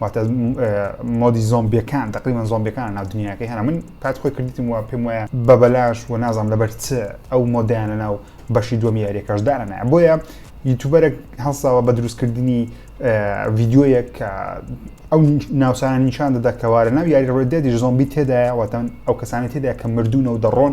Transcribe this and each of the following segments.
واتە مۆدی زۆمبیەکان تقریبان زۆمبیەکان ناو دنیاکەی هەنا من پات خۆی کردیتم وە پێم وایە بە بەلاش و نازانام لەبەر چ ئەو مۆدیانە ناو بەشی دووەم یاریەکەش دانە بۆیە یوتوبەرێک هەڵساوە بە دروستکردنی ڤیددیویەک کە ئەو ناوسانە نیشان دەدا کەوارە ناو یاری ڕێدێدی زۆمبی تێدایە وەتەن ئەو کەسانی تێدا کە مردوونە و دەڕۆن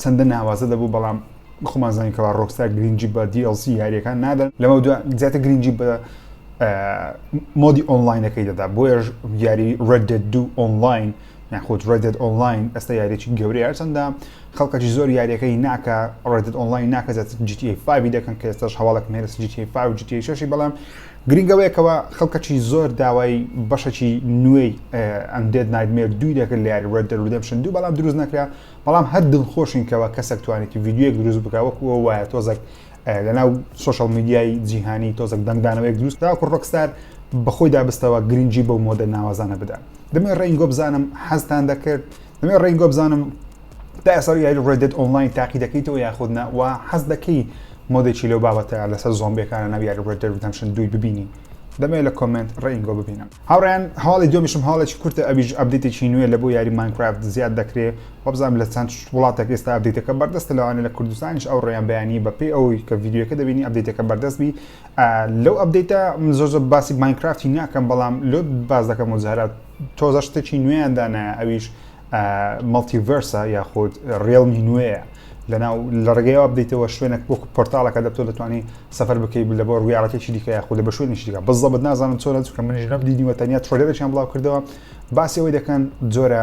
چەندە ناوازە دەبوو بەڵام خۆمان زانین کەوا ڕۆکستا گرنگجی بە DLC یاریەکان نادەن لەمە دو زیاتر گرنگجی بە مۆدی ئۆنلاینەکەی دەدا بۆیش یاری Red Dead 2 ئۆنلاین یاخود Red Dead ئۆنلاین ئەستا یاریێکی گەورەیە هەرچەندە خەڵکەی زۆر یاریەکەی ناکە Red Dead ئۆنلاین ناکە زیاتر GTA 5 دەکەن کە ئێستاش هەواڵەکە مێرس GTA 5 GTA 6 بەڵام گرینگ ئەوەیە کەوا خەڵکەچی زۆر داوای بەشەچی نوێی ئەم دێت نایدمێر دوی دەکرد لە یاری ڕێد دەرودەمشن دوو بەڵام دروست نەکرا بەڵام هەر دڵ خۆشین کەەوە کەسێک توانێتی یددیوەک دروست بکە وەکوەوە وایە تۆزەک لەناو سوۆشال میدیای جیهانی تۆزەک دەنگدانەوەیەک دروست تاکو ڕۆکستار بەخۆی دابستەوە گرنگجی بەو مۆدە ناوازانە بدا دەمێ ڕێنگۆ بزانم حەزتان دەکرد دەمێ ڕێنگۆ بزانم دایە سەر یاری ڕێد دێد ئۆنلاین تاقی دەکەیتەوە یاخود نا و حەز دەکەی مۆدێکی لەو بابەتە لەسەر زۆمبیەکانە ناو یاری ڕێد دێد ریدەمشن دووی ببینی دەمەوێت لە کۆمنت ڕێینگۆ ببینم هاوڕیان هەواڵی دومیشم هەواڵێکی کورتە ئەویش ئەبدێتێکی نوێ لە بۆ یاری ماینکرافت زیاد دەکرێ وەبزانم لە چەند وڵاتێک ئێستا ئەبدێتەکە بەردەستە لەوانە لە کوردستانیش ئەو ڕێیان بەیانی بەپێی ئەوەی کە ڤیدیوەکە دەبینی ئەبدێتەکە بەردەست بی لەو ئەبدێتە زۆر زۆر باسی ماینکرافتی ناکەم بەڵام لۆ باز دەکەم و جارات تۆزە شتێکی نوێیان دانایە ئەویش مەڵتیڤەرسە یاخود ڕێڵمی نوێیە لەناو لە ڕێگەیەوە بدەیتەوە شوێنێک وەکو پۆرتالەکە دەبتۆ دەتوانانی سەفەر بکەیت لە بۆ ڕویاڵەتێکی دیکە یاخود لە بە شوێنی دیکە بزڵبت نازانم چۆن چکە منیش نەم دیدیوە تەنیا ترۆلێرەیان بڵاو کردەوە باسی ئەوەی دەکەن جۆرە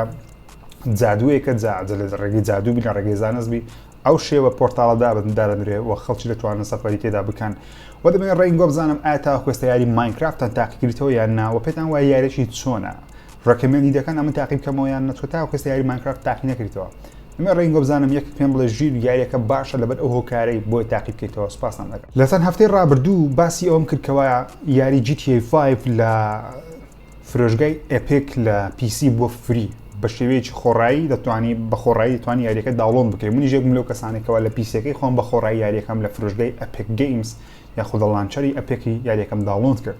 جادوویەکە جاجە لە ڕێگەی جادوو بین لە ڕێگەی زانست بی ئەو شێوە پۆرتاڵە دابدارەنرێ و خەڵکی دەتوانن سەفەری تێدا بکەن و دەبێن ڕێنگۆ بزانم ئایا تا خوێستە یاری ماینکرافت تاقیکردەوە یان ناوە پێتان وایە یارێکی چۆنە ڕێکەمێندی دەکەن ئەمن تاقی بکەمەوە یان نەچکە تاو کەس یاری مانکرافت تاقی نەکریتەوە ئەمە ڕێنگۆ بزانم یەک پێم بڵێ ژیر یاریەکە باشە لەبەر ئەو هۆکارەی بۆی تاقی بکەیتەوە سپاسان دەکەم لە چەند هەفتەی ڕابردوو باسی ئەوم کرد کەوا یاری GTA5 لە فرۆشگای ئەپێک لە پیسی بۆ فری بە شێوەیەکی خۆڕایی دەتوانی بە خۆڕایی دەتوان یاریەکە داڵۆن بکەین منی ژێکم لەو کەسانێکەوە لە پیسەکەی خۆم بە خۆڕایی یاریەکەم لە فرۆشگای ئەپێک گەیمز یاخودە لانچەری ئەپێکی یاریەکەم داڵۆنت کرد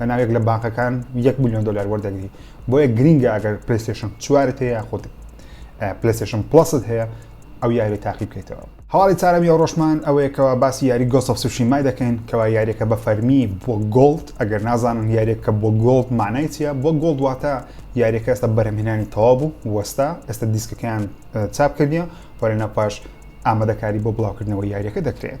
لە ناوێک لە بانقەکان یەک میلیۆن دلار وەردەگری بۆیە گرینگە ئەگەر پلسێشن چوارت هەیە خۆت پلسێشن پلست هەیە ئەو یاری تاقی بکەیتەوە هەواڵی چارەمی ئەو ڕۆژمان ئەوەیەکەوە باسی یاری گۆسەف سوشی مای دەکەین کەوا یاریەکە بە فەرمی بۆ گۆڵد ئەگەر نازانن یاریەکە بۆ گۆڵد مانای چیە بۆ گۆڵد واتە یاریەکە ئێستا بەرەمهێنانی تەوا بوو وەستا ئێستا دیسکەکەیان چاپ کردیە وەرە نەپاش ئامادەکاری بۆ بڵاوکردنەوە یاریەکە دەکرێت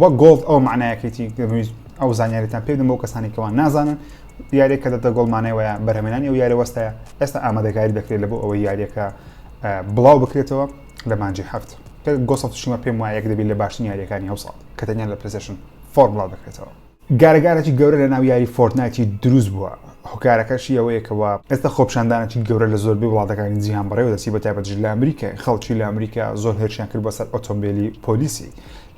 وەک گۆڵ ئەوە مەعنایەکەیەتی ئەو زانیاریتان پێدم بۆ کەسانی کەوا نازانن یاریێک کە دەتە گۆڵ مانای وایە بەرهمێنانی ئەو یارە وەستایە ئێستا ئامادەکاری دەکرێت لە بۆ ئەوەی یاریەکە بڵاو بکرێتەوە لە مانجی هەفت گۆسەشیمە پێم وایە دەبێت لە باشترین یاریەکانی هەوساڵ کە تەنیان لە پرسشن فۆرمڵاو دەکرێتەوە گارە گارەکی گەورە لە ناو یاری فۆرتنایتی دروست بووە، هۆکارەکەشی ئەوەیە کەوا ئێستا خۆپیشاندانەکی گەورە لە زۆربەی وڵاتەکانی جیهان بەڕێوە دەچی بە تایبەتیش لە ئەمریکای، خەڵکی لە ئەمریکا زۆر هێرشیان کرد بۆ سەر ئۆتۆمبێلی پۆلیسی،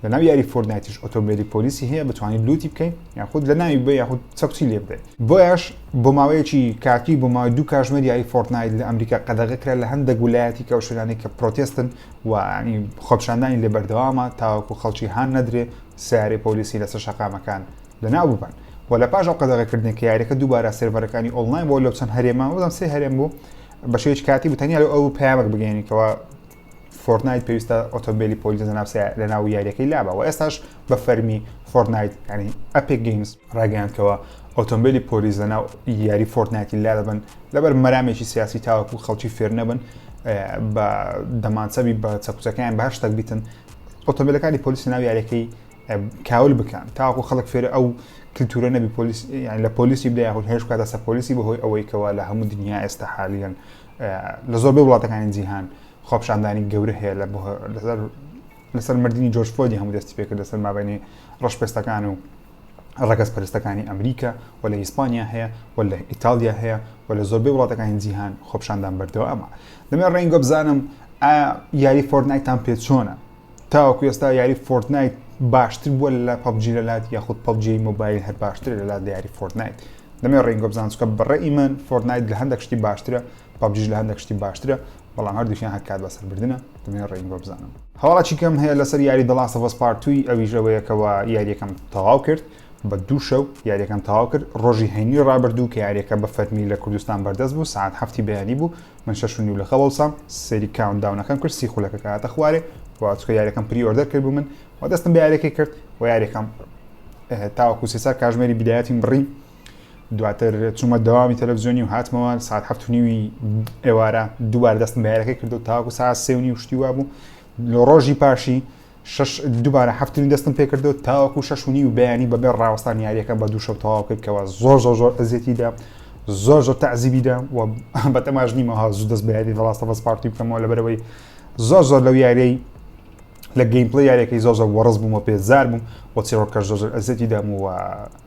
لە ناو یاری فۆرتنایتیش ئۆتۆمبێلی پۆلیسی هەیە بتوانی لوتی بکەی یاخود لە ناوی ببەی یاخود چەکچی لێ بدەی، بۆیەش بۆ ماوەیەکی کاتی بۆ ماوەی دوو کاژمێر یاری فۆرتنایت لە ئەمریکا قەدەغە کرا لە هەندێک ولایەتیک ئەو شوێنانەی کە پرۆتێستن و خۆپیشاندانی لێ بەردەوامە تاوەکو خەڵکی هان نەدرێ سەیارەی پۆلیسی لەسەر شەقامەکان لەناو ببەن و لە پاش ئەو قەدەغەکردنە کە یاریەکە دووبارە سێرڤەرەکانی ئۆنلاین بۆ لەو چەند هەرێمە بەڵام سێ هەرێم بوو بە شێوەیەکی کاتی بوو تەنیا لە ئەو پەیامەک بگەێنیتەوە فۆرنایت پێویستە ئۆتۆمبیلی پۆلیس لەناو لە ناو یاریەکەی لابە و ئێستاش بە فەرمی فۆرنایت ینی ئەپێک گەیمز ڕاگەیاندکەوە ئۆتۆمبیلی پۆلیس لەناو یاری فۆرنایتی لا دەبن لەبەر مەرامێکی سیاسی تاوەکو خەڵکی فێر نەبن بە دەمانچەبی بە چەکوچەکەیان باشتەک بیتن ئۆتۆمبیلەکانی پۆلیس ناو یاریەکەی کاول بکەن تاکو خەڵک فێرە ئەو کللتورە نەبی پۆلیس یان لە پۆلیسی بدای هەول هێش بکاتە سەر پۆلیسی بەهۆی ئەوەی کەوا لە هەموو دنیا ئێستا حالیان لە زۆربەی وڵاتەکانی جیهان خۆپشاندانی گەورە هەیە لە لەسەر مردنی جۆرج فۆدی هەموو دەستی پێکرد لەسەر مابینی ڕەشپێستەکان و ڕەگەزپەرستەکانی ئەمریکا و لە ئیسپانیا هەیە و لە ئیتالیا هەیە و لە زۆربەی وڵاتەکانی جیهان خۆپشاندان بەردەوامە دەمێ ڕێنگە بزانم یاری فۆرنایتان پێ چۆنە تاوەکو ئێستا یاری فۆرتنایت باشتر بووە لە پبجی لە لات یاخود پبجی مۆبایل هەر باشتر لە لات لە یاری فۆرتنایت دەمێ ڕێنگۆ بزانسکە بەڕێ ئیمەن فۆرنایت لە هەندێک شتی باشترە پەبجیش لە هەندێک شتی باشترە بەڵام هەردووکیان هەر کات بەسەر بردنە دەمەوێت ڕێگم بۆ بزانن هەواڵێکی کەم هەیە لەسەر یاری The Last of Us Part 2 ئەویش ئەوەیە کەەوە یاریەکەم تەواو کرد بە دوو شەو یاریەکەم تەواو کرد ڕۆژی هەینی ڕابردوو کە یاریەکە بە فەرمی لە کوردستان بەردەست بوو ساعت هەفتی بەیانی بوو من شەش نیو لە خەڵسام سەری کاون داونەکەم کرد سی خولەکە کاتە خوارێ وچکە یاریەکەم پری ئۆردەر کرد بوو من و دەستم بە یاریەکەی کرد و یاریەکەم تاوەکو سێسار کاژمێری بدایەتیم بڕی دواتر چوومە دەوامی تەلەڤزیۆنی و هاتمەوە ساعت هەفت و نیوی ئێوارە دووبار دەستم بەیارەکەی کردو تاکو ساعت سێ و نیو شتی وا بوو لە ڕۆژی پاشی دووبارە هەفتنی دەستم پێکردو تاوەکو شش و نیو بەیانی بەبێ ڕاوەستان یاریەکە بە دوو شەو تەواو کردکەوە زۆر زۆر زۆر ئەزیەتیدا زۆر زۆر تەعزیبیدا و بە تەماش نیمە ها زوو دەست بەیاری دەڵاستە بەس پارتی بکەمەوە لەبەرەوەی زۆر زۆر لەو یاریی لە گەیمپلی یاریەکەی زۆزە وەڕز بوومە پێزار بووم وە چێڕۆکە زۆزر ئەزەتی دامووە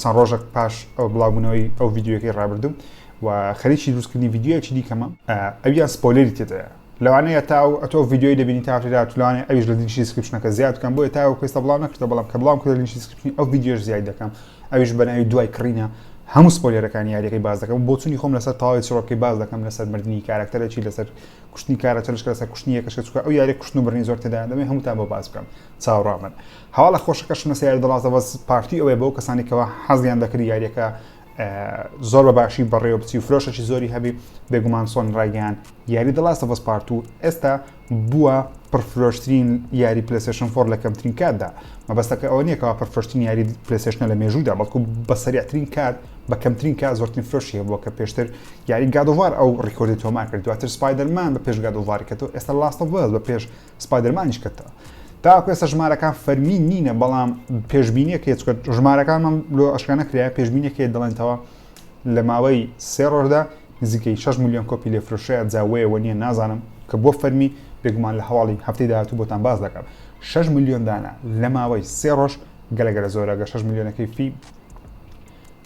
چەند ڕۆژێک پاش ئەو بڵاوبوونەوەی ئەو ڤیددیوەکەی ڕابردوو و خەریکی دروستکردنی ڤیددیوەکی دیکەمە ئەویان سپۆلێری تێدایە لەوانەیە تا و ئەتۆ ڤیددیوی دەبینی تاڕێدا تولانێ ئەویش لە دینشی سکرپشنەکە زیاد بکەم بۆیە تا و پێستا بڵاو نەکردە بەڵام کە بڵام کردە لینشی سکرپشنی ئەو ڤیددیوش زیاد دەکەم ئەویش بەناوی دوای کڕینە هەموو سپۆلێرەکان یاریەکەی باز دەکەم بۆچونی خۆم لەسەر تاوای چڕۆکەی باز دەکەم لەسەر مردنی کارکتەرێکی لەسەر کوشتنی کارە چەلشکە لەسەر کوشتنی یەکەشکە چکە ئەو یاری کوشتن و بڕنی زۆر تێدا دەمێ هەمووتان بۆ باز بکەم چاوڕامن هەواڵە خۆشەکە شمە سیار دڵازەوەز پارتی ئەوەیە بۆ کەسانی کەەوە حەزیان دەکرد یاریەکە زۆر بە باشی بەڕێوە بچی و فرۆشەی زۆری هەبی بێگومان سۆن ڕایگەیان یاری دڵاستە بەس پارت و ئێستا بووە پرفرۆشترین یاری پلسشن فۆر لە کەمترین کاتدا مەبەستەکە ئەوە نیەکەەوە پرفرۆشتین یاری پلسشنە لە مێژوودا بەڵکو بە سەریعترین کات بە کەمترین کات زۆرترین فرۆشی هەبووە کە پێشتر یاری گادوار ئەو ڕیکۆردی تۆمار کرد دواتر سپایدەرمان بە پێش گادوارکەەوە ئێستا لاستە بەس بە پێش سپایدەرمانیش کە تا تاکو ئێستا ژمارەکان فەرمی نینە بەڵام پێشبینیەک هەیە چکە ژمارەکانمان لۆ ئەشکانە کرایە پێشبینێک هەیە دەڵێنەوە لە ماوەی سێ ڕۆژدا نزیکەی 6 میلیۆن کۆپی لێ فرۆشەیە جاوەیەوە نییە نازانم کە بۆ فەرمی بێگومان لە هەواڵی هەفتەی داهاتوو بۆتان باز دەکەم 6 میلیۆن دانە لە ماوەی سێ ڕۆژ گەلەگەلە زۆرە گە 6 میلیۆنەکەی فی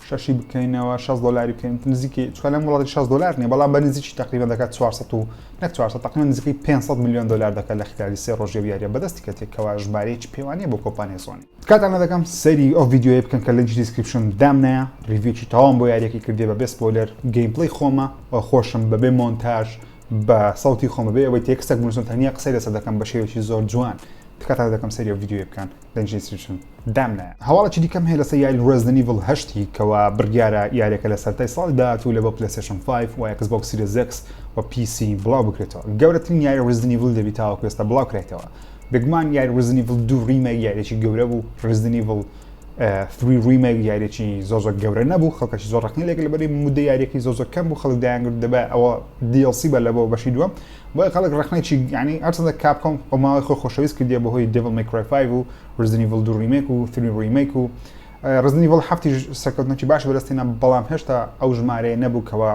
شەشی بکەینەوە شەست دۆلاری بکەین نزیکەی چوار لەم وڵاتی شەست دۆلار نیە بەڵام بە نزیکی تەقریبا دەکات چوار سەد و نەک چوار سەد تەقریبا نزیکەی پێنج سەد ملیۆن دۆلار دەکات لە خلالی سێ ڕۆژی ئەو یاریە بەدەستی کەتێک کەوا ژمارەیەکی پێوانەیە بۆ کۆمپانیای سۆنی تکاتان لە دەکەم سەیری ئەو ڤیدیۆیە بکەن کە لینکی دیسکریپشن دام نایە ڕیڤیوێکی تەواوم بۆ یاریەکەی کردێ بە بێ سپۆیلەر گەیم پلەی خۆمە و خۆشم بە بێ مۆنتاژ بە سەوتی خۆمە بێ ئەوەی تێکستەک بنووسن تەنیا قسەی لەسەر دەکەم بە شێوێکی زۆر جوان تکاتان لە دەکەم سەیری ئەو ڤیدیۆیە بکەن Registration دام نایە. هەواڵێکی دیکەم هەیە لەسەر یاری Resident Evil هەشتی کەوا بڕیارە یاریەکە لە سەرتای ساڵی داهاتوو لە بۆ PlayStation 5 و Xbox Series X و PC بڵاو بکرێتەوە. گەورەترین یاری Resident Evil دەبی تاوەکو ئێستا بڵاو کرایتەوە. بێگومان یاری Resident Evil 2 ریمەک یاریێکی گەورە بوو Resident Evil 3 ریمەک یاریێکی زۆ زۆر گەورە نەبوو خەڵکەشی زۆر ڕقنی لێک لەبەری مدە یاریەکەی زۆ زۆر کەم بوو خەڵک دایانگرت دەبە ئەوە DLC بە لە بۆ بەشی دووەم بۆیە خەڵک ڕەخنەی چی یانی هەرچەندە کاپکۆم بە ماوەی خۆی خۆشەویست کردیە بەهۆی دێڤڵ مەی کرای فایڤ و ڕزدن ئیڤڵ دوو ڕیمەیک و ثری ڕیمەیک و ڕزدن ئیڤڵ هەفتیش سەرکەوتنێکی باشی بەدەست هێنا بەڵام هێشتا ئەو ژمارەیە نەبوو کەوا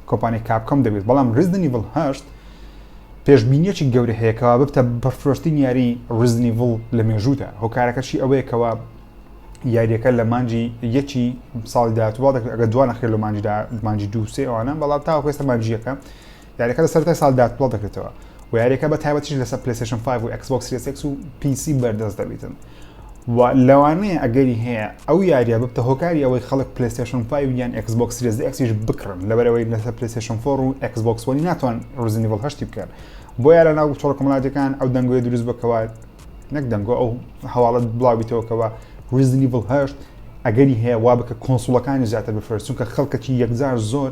کۆمپانیای کاپکۆم دەبێت بەڵام ڕزدن ئیڤڵ هەشت پێشبینیەکی گەورە هەیە کەوا ببتە بەفرۆشترین یاری ڕزدن ئیڤڵ لە مێژوودا هۆکارەکەشی ئەوەیە کەوا یاریەکە لە مانجی یەکی ساڵی داهاتوو بەڵام ئەگەر دوانەخرێت لە مانجیدا مانجی دوو سێ ئەوانە بەڵام تاوەکو ئێستا مانجییەکە یاریەکە لە سەرەتای ساڵ داتپڵە دەکرێتەوە و یاریەکە بە تایبەتیش لەسەر پلیسشن 5 و Xbox Series X و PC بەردەست دەبیتن و لەوانەیە ئەگەری هەیە ئەو یاریە ببتە هۆکاری ئەوەی خەڵک پلیسشن 5 یان Xbox Series X یش بکڕن لەبەرەوەی لەسەر پلیسشن 4 و Xbox One ناتوان ڕزنیڤڵ هەشتی بکەن بۆ یارە ناو چۆڵ کۆمەڵاتەکان ئەو دەنگۆی دروست بکەوە نەک دەنگۆ ئەو هەواڵت بڵاوبیتەوەکەوە ڕزنیڤڵ هەشت ئەگەری هەیە وا بکە کۆنسوڵەکانی زیاتر بفرست چونکە خەڵکەکی یەکجار زۆر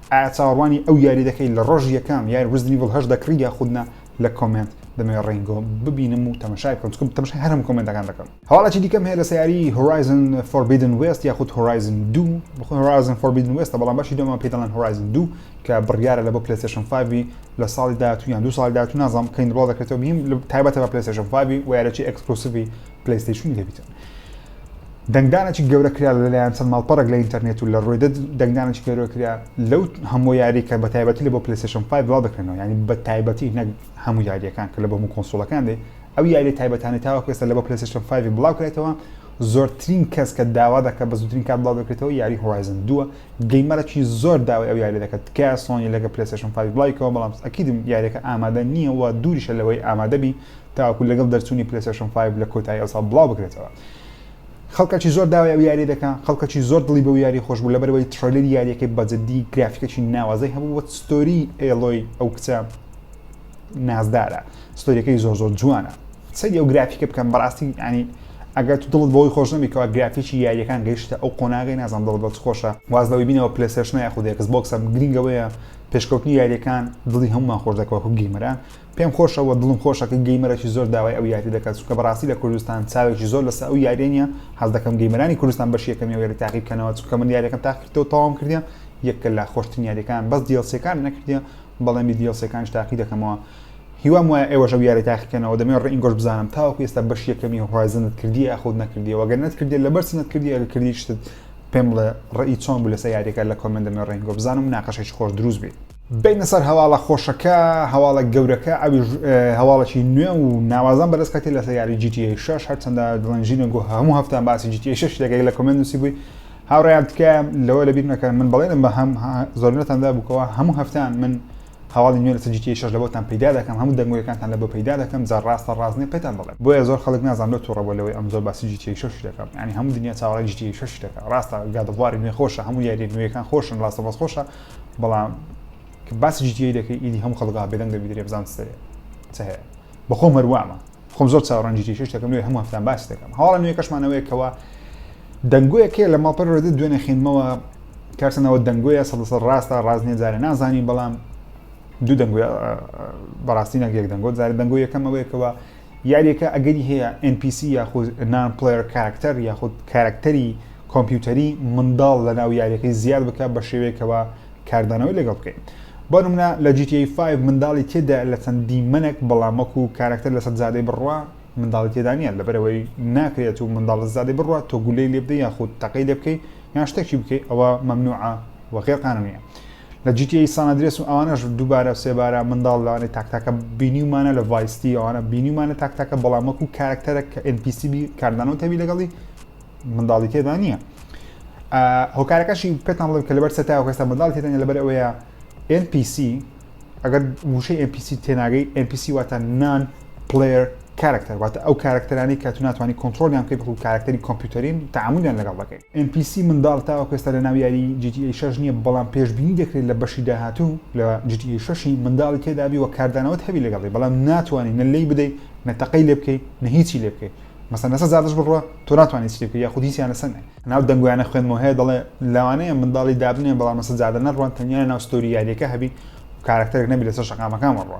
ئایا چاوەڕوانی ئەو یاری دەکەی لە ڕۆژی یەکەم یاری ڕیزدن ئیڤڵ هەشت دەکڕی یاخود نا لە کۆمێنت دەمەوێ ڕینگۆ ببینم و تەمەشای بکەم چونکە تەمەشای هەر هەموو کۆمێنتەکان دەکەم هەواڵێکی دیکەم هەیە لەسەر یاری هۆرایزن فۆربیدن وێست یاخود هۆرایزن دوو بەخۆی هۆرایزن فۆربیدن وێستە بەڵام بەشی دووەمان پێی دەڵێن هۆرایزن دوو کە بڕیارە لە بۆ پلەیستێشن فایڤی لە ساڵی داهاتوو یان دوو ساڵی داهاتوو نازانم کەی دەبڵاو دەکرێتەوە بیم تایبەتە بە پلەیستێشن فایڤی و یاریەکی ئێکسکلوسڤی پلیستیشنی لێبیتن دەنگدانێکی گەورە کرا لەلایەن چەند ماڵپەڕێک لە ئینتەرنێت و لە ڕۆیدە دەنگدانێکی گەورە کرا لەو هەموو یاری کە بە تایبەتی لە بۆ پلیستیشن پای بڵاو دەکەنەوە ینی بە تایبەتی نەک هەموو یاریەکان کە لە بۆ هەموو کۆنسۆڵەکان دێ ئەو یاری تایبەتانی تاوە کوێستە لە بۆ پلیستیشن فایوی بڵاو کرێتەوە زۆرترین کەس کە داوا دەکە بە زودترین کات بڵاو دەکرێتەوە یاری هۆایزن دووە گەیمەرەی زۆر داوای ئەو یاری دەکەت تکە سۆنی لەگە پلیستیشن فای بڵایکەوە بەڵام ئەکیدم یاریەکە ئامادە نییە و دووریشە لەوەی ئامادەبی تاوەکو لەگەڵ دەرچوونی پلەیستەشن فایڤ لە کۆتایی ئەوساڵ بڵاو بکرێتەوە خەڵکەکی زۆر داوای ئەو یاریە دەکا خەڵکەکی زۆر دڵی بەو یاری خۆش بوو لەبەرەوەی تڕەیلەری یاریەکەی بەجددی گرافیکەکی ناوازەی هەبوو وە ستۆری ئێڵۆی ئەو کچە نازدارە ستۆریەکەی زۆر زۆر جوانە سەری ئەو گرافیکە بکەم بەڕاستی ینی ئەگەر تو دڵت بەوەی خۆش نەبیکەوە گرافیکی یاریەکان گەیشتە ئەو قۆناغی نازان دڵ بەت خۆشە وازەوەی بینەوە پلسێشنە یاخودێکس بۆکسە گرنگەوەیە پێشکەوتنی یاریەکان دڵی هەمومان خۆش دەکەوە گەیمەران پێم خۆشە وە دڵم خۆشە کە گەیمەرەکی زۆر داوای ئەو یاریە دەکات چونکە بەڕاستی لە کوردستان چاوێکی زۆر لەسەر ئەو یاریە نیە حەز دەکەم گەیمەرانی کوردستان بەشی یەکەمی ئەو یاریە تاقی بکەنەوە چونکە من یاریەکەم تاقی کردەوە تەواوم کردیە یەکە لە خۆشترین یاریەکان بەس دیڵسیەکان نەکردیە بەڵێنی دیڵسیەکانش تاقی دەکەمەوە هیوام وایە ئێوەش ئەو یاری تاقیکەنەوە دەمێ ڕئینگۆش بزانم تاوەکو ئێستا بەش یەکەمی هۆرایزنت کردی یاخود نەکردیەوە گەر نەتکردی لەبەر چی نەتکردی ئەگە کردیشتت پێم بڵێ ڕێی چۆن بوو لەسەر یاریەکە لە کۆمێنت دەمێ ڕێنگۆ بزانم مناقەشێکی خۆش دروست بێ بێینە سەر هەواڵە خۆشەکە هەواڵە گەورەکە ئەویش هەواڵەکی نوێ و ناوازان بەرز کەتی لەسەر یاری GTA 6 هەرچەندە دڵنجینە گۆ هەموو هەفتان باسی GTA 6 لەگەی لە کۆمنت نووسی بووی هاوڕیان تکە لەوە لەبیر نەکەن من بڵێنم بە هەم زۆرنەتاندا بووکەوە هەموو هەفتان من هەواڵی نوێ لەسەر GTA 6 لە بۆتان پیدا دەکەم هەموو دەنگۆیەکانتان لە بۆ پیدا دەکەم جا ڕاستە ڕاستنی پێتان دەڵێم بۆیە زۆر خەڵک نازان لۆ توڕە بۆ لەوەی ئەم زۆر باسی GTA 6 دەکەم ینی هەموو دنیا چاوەڕی GTA 6 دەکە ڕاستە گادەڵواری نوێ خۆشە هەموو یاری نوێەکان خۆشن ڕاستە بەس خۆشە بەڵام کە باسی جیتیی دەکەی ئیدی هەم خەڵگا بێدەنگ دەبی درێ بزان دەێ چ هەیە بەخۆ مەروامە خۆم زۆر چاوەڕەنجی شش دەکەم نوێ هەموو هەفتان باس دەکەم هەواڵە نوێ کەشمانەوەیەکەوە دەنگۆیەکێ لە ماڵپەر ڕێدە دوێنێ خوێنمەوە کارسەنەوە دەنگۆیە سە ڕاستە ڕاست نیە جارێ نازانین بەڵام دوو دەنگۆ بەڕاستی نەگەک دەنگۆ جارە دەنگۆ یەکەمەوەیەکەوە یاریەکە ئەگەری هەیە ئێن پی سی یاخود نان پلەیەر کاراکتەر یاخود کاراکتەری کۆمپیوتەری منداڵ لەناو یاریەکەی زیاد بکات بە شێوەیەکەوە کاردانەوەی لەگەڵ بکەیت بۆ نمونە لە جی تی ئەی فایڤ منداڵی تێدایە لە چەند دیمەنێک بەڵام وەکو کاراکتەر لەسەر جادەی بڕوا منداڵی تێدا نییە لەبەرئەوەی ناکرێت و منداڵ لەسەر جادەی بڕوات تۆ گولەی لێ بدەی یاخود تەقەی لێ بکەی یان شتێکی بکەی ئەوە مەمنوعە و غێر قانونییە لە جی تی ئەی سان ئەدرێس و ئەوانەش دووبارە سێبارە منداڵ لەوانەی تاکتاکە بینیومانە لە ڤایستی ئەوانە بینیومانە تاکتاکە بەڵام وەکو کارکتەرە کە NPC بی کاردانەوە تەبی لەگەڵی منداڵی تێدا نییە هۆکارەکەشی پێتان بڵێم کە لەبەر سەتا هێستا منداڵ تێدان لەبەر ئەوەیە NPC ئەگەر وشەی NPC تێناگەی NPC واتە نان پلەر کارەکتەر، واتە ئەو کارەکتەرانەی کە تو ناتوانی کۆنترۆڵیان بکەیت بەڵکو کارەکتەری کۆمپیوتەرین و تەعامولیان لەگەڵ دەکەیت. ئێن پی سی منداڵ تاوەکو ئێستا لەناو یاری جی تی ئەی شەش نییە، بەڵام پێشبینی دەکرێت لە بەشی داهاتوو لە جی تی ئەی شەش ی منداڵی تێدابی و کاردانەوەت هەبی لەگەڵی بەڵام ناتوانی نە لێی بدەی نە تەقەی لێ بکەی نە هیچی لێ بکەی مەسەن لەسەر زادش بڕوا تۆ ناتوانی هیچی لێ بکەی یاخود هیچیان لەسەر نەی ناو دەنگۆیانە خوێندمەوە هەیە دەڵێ لەوانەیە منداڵی دابنێن بەڵام لەسەر زادە نەڕوات تەنیا لەناو ستۆری یاریەکە هەبی و کارەکتەرێک نەبی لەسەر شەقامەکان بڕوا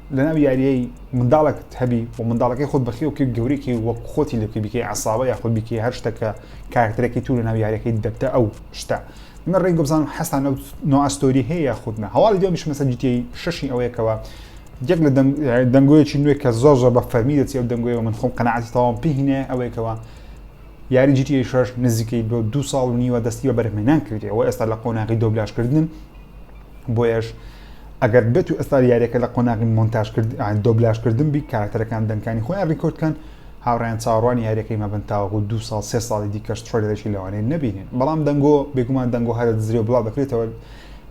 لەناو یاریەی منداڵەکت هەبی و منداڵەکەی خۆت بەخێو بکەی گەورەیکەی وەک خۆتی لێ بکەی بیکەی عەسابە یاخود بیکەی هەر شتە کە کارەکتەرەکەی تو لەناو یاریەکەی دەبتە ئەو شتە من ڕێنگە بزانم حەزتان لەو نوعە ستۆری هەیە یاخود نا هەواڵی دووەم یشمە سەر جیتیەی شەشی ئەوەیە کەوە یەک لە دەنگۆیەکی نوێ کە زۆر زۆر بە فەرمی دەچی ئەو دەنگۆیەوە من خۆم قەنەعاتی تەواوم پێی هینایە ئەوەیە کەوە یاری جیتیەی شەش نزیکەی بۆ دوو ساڵ و نیوە دەستی بە بەرهەمهێنان کردی ئەوە ئێستا لە قۆناغی دۆبلاژکردنن بۆیەش ئەگەر بێت و ئێستا یاریەکە لە قۆناغی مۆنتاژ کرد دۆبلاژ کردن بی کارەکتەرەکان دەنکانی خۆیان ریکۆرد کەن هاوڕیان چاڕوانی یاریەکەی مەبن تاوەکو دو ساڵ سێ ساڵی دیکەش ترۆلێکی لەوانەیە نبینین بەڵام دەنگۆ بێگومان دەنگۆ هەرە دزرێ و بڵاو دەکرێتەوە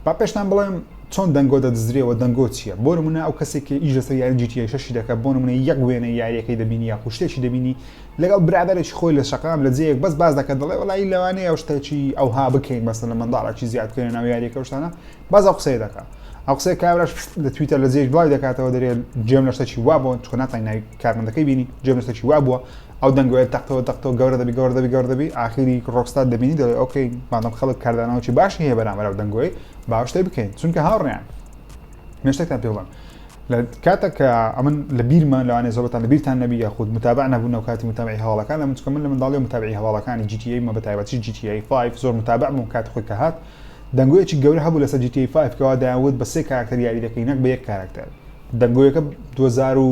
با پێشتان بڵێم چۆن دەنگۆ دەدزرێەوە دەنگۆ چییە بۆ نمونە ئەو کەسێکی ئیش لەسەر یاری جیتیای شەشی دەکە بۆ نمونە یەک وێنە یاریەکەی دەبینی یا خوشتێکی دەبینی لەگەڵ برادێکی خۆی لە شقام لە جێیەک بەس باز دەکە دەڵێ وڵی لەوانەیە ئەو شتێکی ئەوها بکەین بەسە لە منداڵێکی زیاد بکەین ناو یاریەکە شتانە باز ئەو قسەی دەکا ئەو قسەی کابراش لە تویتە لە جێش دوای دەکاتەوە دەرێت جێم لە شتەکی وا بوون چکە ناتای ناوی کارمەندەکەی بینی جێم لە شتەکی وا بووە ئەو دەنگوێت تەختەوە تەختەوە گەورە دەبی گەورە دەبی گەورە دەبی ئاخیری ڕۆکستات دەبینی دەڵێ ئۆکەی مادەم خەڵک کاردانەوەی باشی هەیە بەرامەرە و دەنگۆی باشتە بکەین چونکە هاوڕیان مێشتێکتان پێ بڵم لە کاتە کە ئەمن لە بیرمان لەوانێ زۆبتان لە بیرتان نەبی یا خود متابع نەبوون و کاتی متابعی هەواڵەکان لە منچکە من لە منداڵی و متابعی هەواڵەکانی جیتیایی مە بەتایبەتی جیتیایی 5 زۆر متابع بووم کات خۆی کە هات دەنگۆیەکی گەورە هەبوو لەسەر جی تی ئەی فایڤ کەوا دەیانوت بە سێ کاراکتەر یاری دەکەی نەک بە یەک کاراکتەر دەنگۆیەکە دوو هەزار و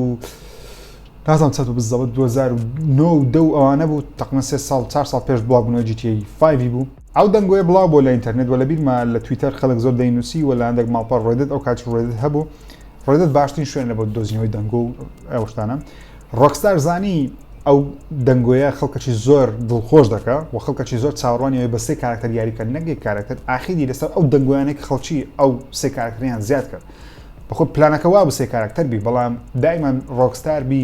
نازانم چەند بوو بزەوت دوو هەزار و نۆ و دە و ئەوانە بوو تەقریبەن سێ ساڵ چوار ساڵ پێش بڵاوبوونەوەی جی تی ئەی فایڤی بوو ئەو دەنگۆیە بڵاو بووە لە ئینتەرنێت و لە بیرمە لە تویتەر خەڵک زۆر دەینووسی و لە هەندێک ماڵپەڕ ڕێدت ئەو کاتیش ڕێدت هەبوو ڕێدت باشترین شوێنە بۆ دۆزینەوەی دەنگۆ و ئەو شتانە ڕۆکستار زانی ئەو دەنگۆیە خەڵکەکی زۆر دڵخۆش دەکا و خەڵکەکی زۆر چاوەڕوانیەوەی بە سێ کارەکتەر یاری بکەن نەک یەک کارەکتەر ئاخیری لەسەر ئەو دەنگۆیانەی کە خەڵکی ئەو سێ کارەکتەریان زیاد کرد بەخۆ پلانەکە وا بە سێ کارەکتەر بی بەڵام دایمەن ڕۆکستار بی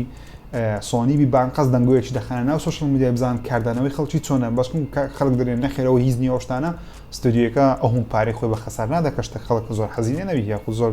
سۆنی بی بانقەز دەنگۆیەکی دەخانە ناو سوشل میدیای بزان کاردانەوەی خەڵکی چۆنە بەس خەڵک دەرێن نەخێرەوە هیچ نیە ئەوشتانە ستۆدیۆەکە ئەو هەم پارەی خۆی بە خەسار نادە کە شتە خەڵک زۆر حەزی لێ نەبی یاخود زۆر